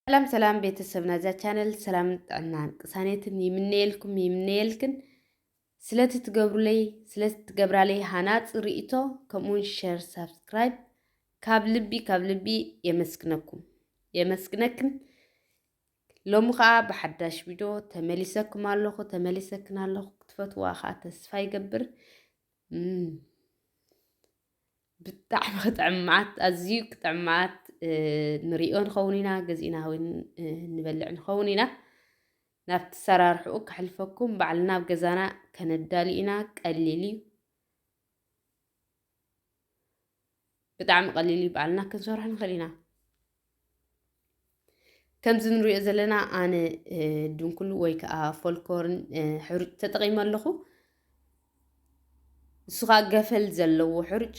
ሰላም ሰላም ቤተሰብ ናዛ ቻነል ሰላም ጥዕናን ቅሳኔትን ይምነየልኩም ይምነየልክን ስለቲ ትገብሩለይ ስለቲ ትገብራለይ ሃናፅ ርእቶ ከምኡውን ሸር ሳብስክራይብ ካብ ልቢ ካብ ልቢ የመስግነኩም የመስግነክን ሎሚ ከኣ ብሓዳሽ ቪድዮ ተመሊሰኩም ኣለኹ ተመሊሰክን ኣለኹ ክትፈትዋ ከኣ ተስፋ ይገብር ብጣዕሚ ክጥዕም መዓት ኣዝዩ ክጥዕም መዓት ንሪኦ ንኸውን ኢና ገዚእና እውን ንበልዕ ንኸውን ኢና ናብቲ ሰራርሕኡ ከሕልፈኩም ባዕልና ኣብ ገዛና ከነዳሊ ኢና ቀሊል እዩ ብጣዕሚ ቀሊል እዩ ባዕልና ክንሰርሖ ንኽእል ኢና ከምዚ ንሪኦ ዘለና ኣነ ድንኩል ወይ ከዓ ፎልኮርን ሕሩጭ ተጠቒመ ኣለኹ ንሱ ከዓ ገፈል ዘለዎ ሕሩጭ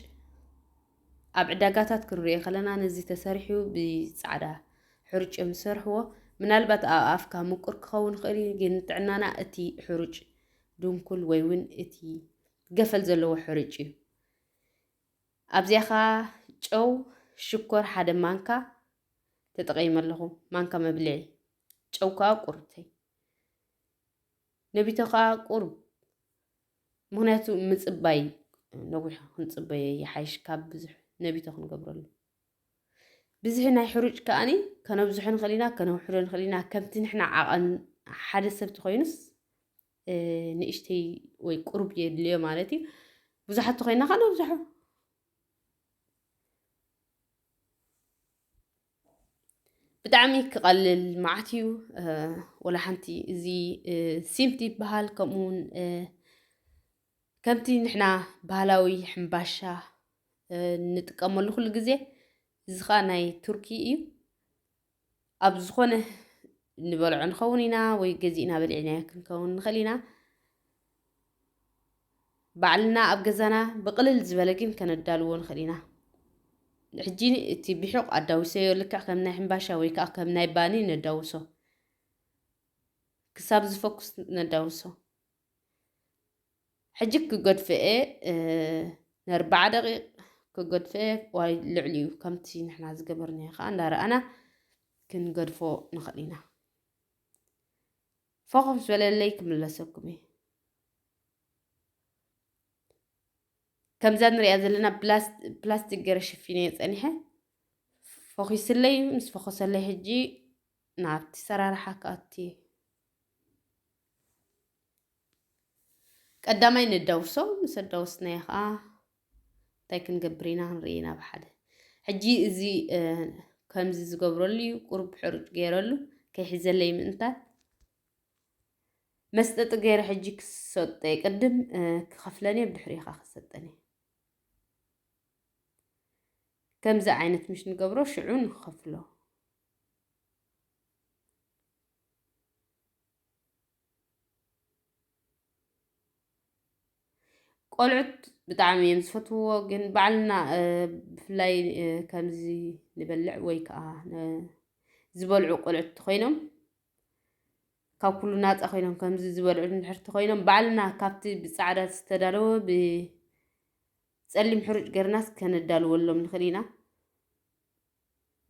ኣብ ዕዳጋታት ክንሪኦ ከለና ነዚ ተሰሪሑ ብፃዕዳ ሕሩጭ እዮም ዝሰርሕዎ ምናልባት ኣብ ኣፍካ ምቁር ክኸውን ይኽእል እዩ ግን ጥዕናና እቲ ሕሩጭ ድንኩል ወይ እውን እቲ ገፈል ዘለዎ ሕሩጭ እዩ። ኣብዚኣ ከኣ ጨው፣ ሽኮር ሓደ ማንካ ተጠቒመ ኣለኹ፣ ማንካ መብልዒ። ጨው ከኣ ቁርብተይ ነቢቶ ከኣ ቁርብ ምክንያቱ ምፅባይ ነዊሕ ክንፅበዮ ይሓይሽ ካብ ብዙሕ ነቢቶ ክንገብረሉ ብዝሒ ናይ ሕሩጭ ከኣኒ ከነብዝሖ ንኽእል ኢና ከነውሕዶ ንኽእል ኢና ከምቲ ንሕና ዓቐን ሓደ ሰብ ተኮይኑስ ንእሽተይ ወይ ቁሩብ የድልዮ ማለት እዩ ብዙሓት ተኮይና ከዓ ነብዝሖ ብጣዕሚ ክቐልል መዓት እዩ ወላ ሓንቲ እዚ ሲምቲ ይበሃል ከምኡ ውን ከምቲ ንሕና ባህላዊ ሕምባሻ ንጥቀመሉ ኩሉ ግዜ እዚ ከዓ ናይ ቱርኪ እዩ ኣብ ዝኾነ ንበልዖ ንኸውን ኢና ወይ ገዚእና በሊዕናዮ ክንከውን ንኽእል ኢና። ባዕልና ኣብ ገዛና ብቕልል ዝበለ ግን ከነዳልዎ ንኽእል ኢና። ሕጂ እቲ ብሑቕ ኣዳዊሰዮ ልክዕ ከም ናይ ሕምባሻ ወይ ከዓ ከም ናይ ባኒ ነዳውሶ። ክሳብ ዝፈኩስ ነዳውሶ። ሕጂ ክገድፍኤ ንኣርብዓ ደቂቕ ክገድፍኤ ዋይ ልዕሊኡ ከምቲ ንሕና ዝገበርናዮ ከዓ እንዳረኣና ክንገድፎ ንኽእል ኢና ፎኸፍ ዝበለለይ ክምለሰኩም እዩ ከምዛ ንሪኣ ዘለና ፕላስቲክ ገረ ሽፊነ ፀኒሐ ፎኪስለይ ምስ ፎኸሰለይ ሕጂ ናብቲ ሰራርሓ ክኣቲ እዩ ቀዳማይ ነዳውሶ ምስ ኣዳወስናዮ ከዓ እንታይ ክንገብር ኢና ክንርኢ ናብ ሓደ ሕጂ እዚ ከምዚ ዝገብረሉ እዩ ቁርብ ሕሩጭ ገይረሉ ከይሕዘለይ ምእንታት መስጠጢ ገይረ ሕጂ ክሰጠ ቅድም ክኸፍለኒ ብድሕሪኻ ክሰጠኒ ከምዚ ዓይነት ምሽ ንገብሮ ሽዑ ንኸፍሎ ቆልዑት ብጣዕሚ እዮም ዝፈትውዎ። ግን ባዕልና ብፍላይ ከምዚ ንበልዕ ወይ ከዓ ዝበልዑ ቆልዑት ኮይኖም ካብ ኩሉ ናፃ ኮይኖም ከምዚ ዝበልዑ ንድሕርቲ ኮይኖም ባዕልና ካብቲ ብፃዕዳ ዝተዳለወ ብፀሊም ሕሩጭ ገርናስ ከነዳልወሎም ንኽእል ኢና።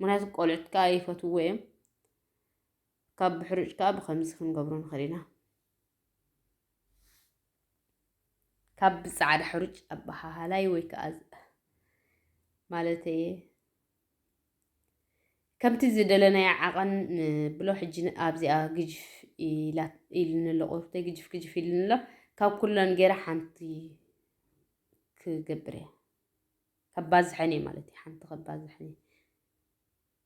ምክንያቱ ቆልዑት ከዓ ይፈትውዎ እዮም። ካብ ብሕሩጭ ከዓ ብከምዚ ክንገብሮ ንኽእል ኢና። ካብ ብፃዕዳ ሕሩጭ ኣበሃሃላይ ወይ ከዓ ማለት እየ ከምቲ ዝደለናዮ ዓቐን ብሎ ሕጂ ኣብዚኣ ግጅፍ ኢልኒ ኣሎ ቁርብተይ ግጅፍ ግጅፍ ኢልኒ ኣሎ ካብ ኩለን ገይረ ሓንቲ ክገብር እየ ከባዝሐን እየ ማለት እዩ ሓንቲ ከባዝሐን እየ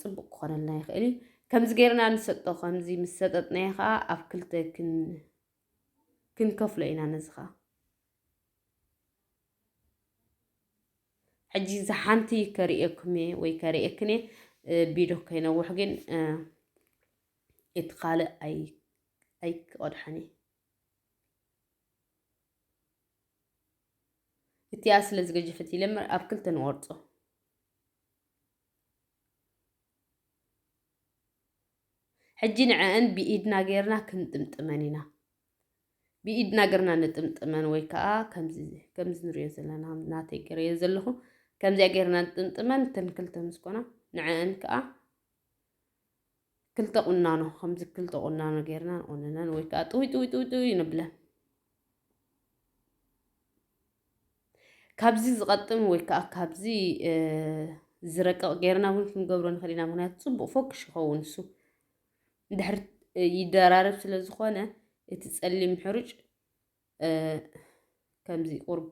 ጽቡቕ ክኾነልና ይኽእል እዩ ከምዚ ጌርና ንሰጦ ከምዚ ምስ ሰጠጥናዮ ከዓ ኣብ ክልተ ክንከፍሎ ኢና ነዚ ከዓ ሕጂ እዚ ሓንቲ ከርእየኩም እየ ወይ ከርእየክን እየ ቢዶ ከይነውሕ ግን እቲ ካልእ ኣይክቐድሐን እየ እቲኣ ስለ ዝገጀፈት ይለምር ኣብ ክልተ ንቆርፆ ሕጂ ንዐኣን ብኢድና ጌርና ክንጥምጥመን ኢና። ብኢድና ገርና ንጥምጥመን ወይ ከዓ ከምዚ ንሪኦ ዘለና ናተይ ገርየን ዘለኹ ከምዚኣ ጌርና ንጥምጥመን ተንክልተ ምስ ኮና ንዐኣን ከዓ ክልተ ቁናኖ ከምዚ ክልተ ቁናኖ ጌርና ንቁንነን ወይ ከዓ ጥውይ ጥውይ ጥውይ ጥውይ ንብለን ካብዚ ዝቐጥን ወይ ከዓ ካብዚ ዝረቅቕ ጌርና እውን ክንገብሮ ንኽእል ኢና ምክንያቱ ፅቡቅ ፎክሽ ይኸውን እሱ ድሕር ይደራረብ ስለ ዝኾነ እቲ ፀሊም ሕሩጭ ከምዚ ቁርብ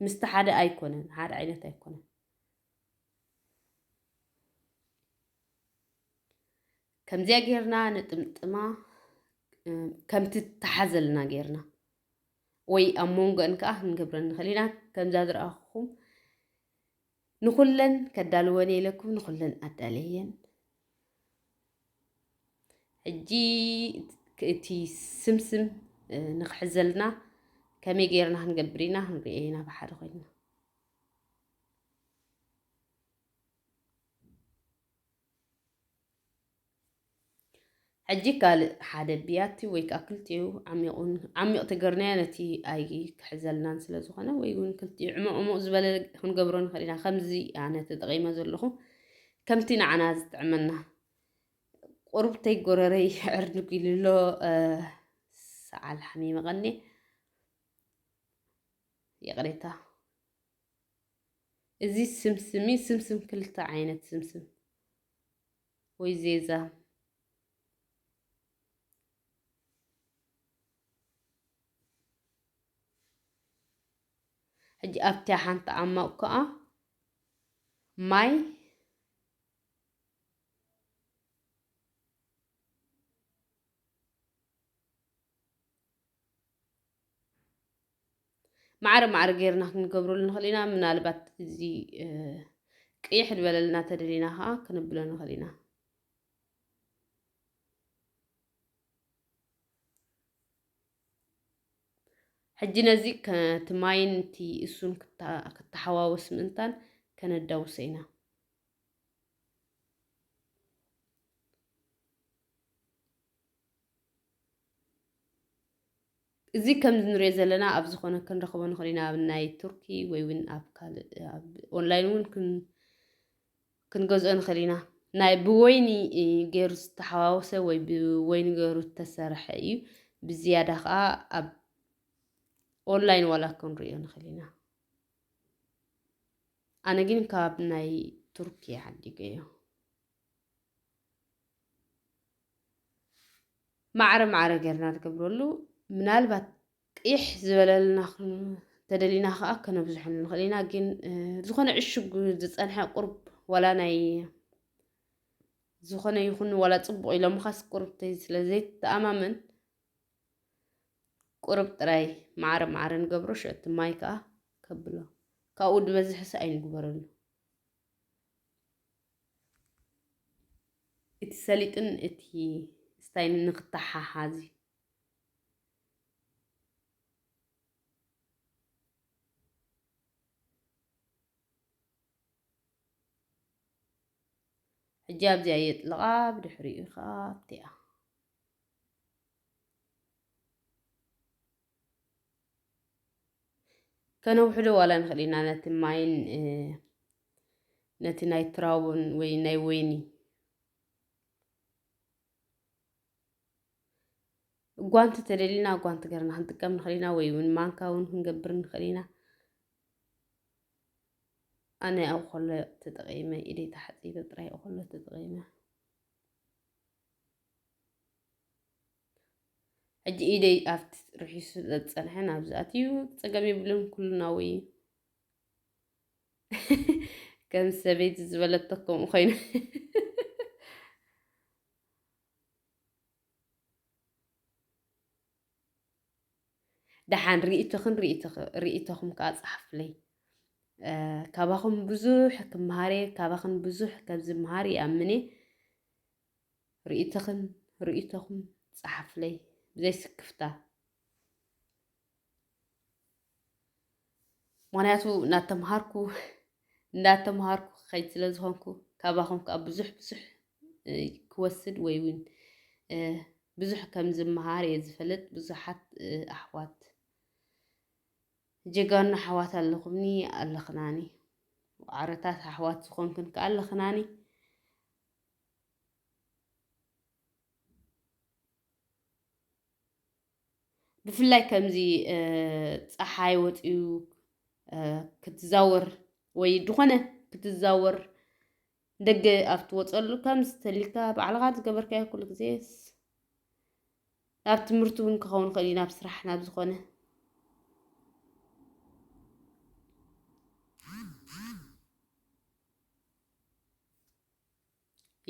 ምስቲ ሓደ ኣይኮነን ሓደ ዓይነት ኣይኮነን ከምዚያ ጌርና ንጥምጥማ ከምቲ ተሓዘልና ጌርና ወይ ኣብ መንጎን ከዓ ክንገብረን ንኽእል ኢና ከምዛ ዝረኣኹም ንኹለን ከዳልወን እየ ኢለኩም ንኹለን ኣዳለየን። ሕጂ እቲ ስምስም ንክሕዘልና ከመይ ገይርና ክንገብር ኢና ክንሪኦ ኢና ብሓደ ኮይና ሕጂ ካልእ ሓደ ብያቲ ወይ ከዓ ክልቲኡ ዓሚቑን ዓሚቕ ትግርናያ ነቲ ኣይ ክሕዘልናን ስለ ዝኾነ ወይ እውን ክልቲኡ ዕሙቕ ዕሙቕ ዝበለ ክንገብሮ ንኽእል ኢና ከምዚ ኣነ ተጠቒመ ዘለኹ ከምቲ ንዓና ዝጥዕመና ቁርብተይ ጎረረይ ዕርድጉ ኢሉ ኣሎ ሰዓል ሓሚመቐኒ ይቕሬታ እዚ ስምስም እዩ ስምስም ክልተ ዓይነት ስምስም ወይ ዜዛ ሕጂ ኣብታ ሓንቲ ዓማቕ ከዓ ማይ ማዕረ ማዕረ ጌርና ክንገብረሉ ንኽእል ኢና ምናልባት እዚ ቅይሕ ዝበለልና ተደሊና ከዓ ክንብሎ ንኽእል ኢና ሕጂ ነዚ ከቲ ማይን እቲ እሱን ክተሓዋወስ ምእንታን ከነዳውሰ ኢና እዚ ከምዚ ንሪኦ ዘለና ኣብ ዝኾነ ክንረኽቦ ንኽእል ኢና ኣብ ናይ ቱርኪ ወይ እውን ኣብ ካልእ ኦንላይን እውን ክንገዝኦ ንኽእል ኢና ናይ ብወይኒ ገይሩ ዝተሓዋወሰ ወይ ብወይኒ ገይሩ ዝተሰርሐ እዩ ብዝያዳ ከዓ ኣብ ኦንላይን ዋላ ክንሪኦ ንኽእል ኢና ኣነ ግን ካብ ናይ ቱርኪ ዓዲገዮ ማዕረ ማዕረ ጌርና ንገብረሉ ምናልባት ቂሕ ዝበለልና ተደሊና ከዓ ከነብዝሖ ንኽእል ኢና ግን ዝኾነ ዕሹግ ዝፀንሐ ቁርብ ዋላ ናይ ዝኾነ ይኹን ዋላ ፅቡቕ ኢሎምኻስ ቁርብ ስለ ዘይተኣማመን ቁርብ ጥራይ ማዕረ ማዕረ ንገብሮ ሸቲ ማይ ከዓ ከብሎ ካብኡ ዝበዝሕሰ ኣይንግበረሉ እቲ ሰሊጥን እቲ ስታይን ንክተሓሓዝ እዩ። ሕጂ ኣብዚኣ የጥልቓ ብድሕሪኡ ከዓ ኣብቲኣ ከነውሕዶ ዋላ ንኽእል ኢና ነቲ ማይን ነቲ ናይ ትራቡን ወይ ናይ ወይኒ ጓንቲ ተደሊና ጓንቲ ገርና ክንጥቀም ንኽእል ኢና ወይ እውን ማንካ እውን ክንገብር ንኽእል ኢና ኣነ ኣብ ኮሎ ተጠቂመ ኢደ ተሓፂበ ጥራይ ኮሎ ተጠቂመ ሕጂ ኢደይ ኣብቲ ርሒሱ ስለ ዝጸንሐ ናብዚ ኣትዩ ጸገም የብሉን ኩሉናዊ ከም ሰበይቲ ዝበለቶ ከምኡ ኮይኑ ደሓን ርእቶኽን ርእቶኹም ከዓ ጸሓፍለይ ካባኹም ብዙሕ ክምሃር እየ ካባኽን ብዙሕ ከምዝምሃር ይኣምን እየ ርኢቶኽን ርኢቶኹም ጸሓፍለይ ብዘይ ስክፍታ። ምክንያቱ እናተምሃርኩ እንዳተምሃርኩ ክኸይድ ስለ ዝኾንኩ ካባኹም ከዓ ብዙሕ ብዙሕ ክወስድ ወይ እውን ብዙሕ ከም ዝመሃር እየ ዝፈልጥ። ብዙሓት ኣሕዋት ጀጋኑ ኣሕዋት ኣለኹምኒ ኣለኽናኒ ዓረታት ኣሕዋት ዝኾንክን ከዓ ኣለኽናኒ ብፍላይ ከምዚ ፀሓይ ወፅዩ ክትዛወር ወይ ዝኾነ ክትዛወር ደገ ኣብ ትወፀሉ ከም ዝተልካ ባዕልኻ ዝገበርካዮ ኩሉ ግዜ ናብ ትምህርቲ እውን ክኸውን ይኽእል እዩ ናብ ስራሕ ናብ ዝኾነ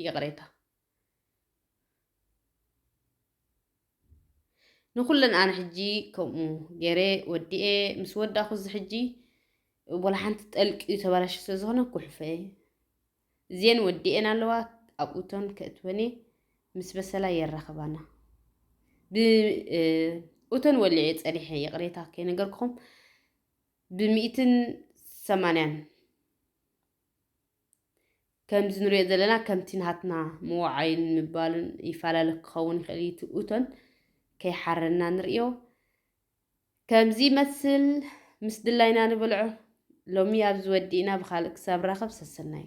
ይቕሬታ ንኹለን ኣነ ሕጂ ከምኡ ገይረ ወዲኤ ምስ ወዳኹ እዚ ሕጂ ወላ ሓንቲ ጠልቂ እዩ ተበላሽ ስለ ዝኾነ ኩሕፈ እዚኤን ወዲኤን ኣለዋ ኣብኡተን ከእትወኔ ምስ በሰላ የራኽባና ብእቶን ወሊዐ ፀኒሐ ይቕሬታ ከይነገርኩም ብሚእትን ሰማንያን ከምዚ ንሪኦ ዘለና ከምቲ ናትና ምውዓይን ምባልን ይፈላለ ክኸውን ይኽእል እዩ። እቲ እቶን ከይሓረና ንሪኦ ከምዚ ይመስል ምስ ድላይና ንበልዖ። ሎሚ ኣብዚ ወዲእና ብካልእ ክሳብ ራኸብ ሰሰናዩ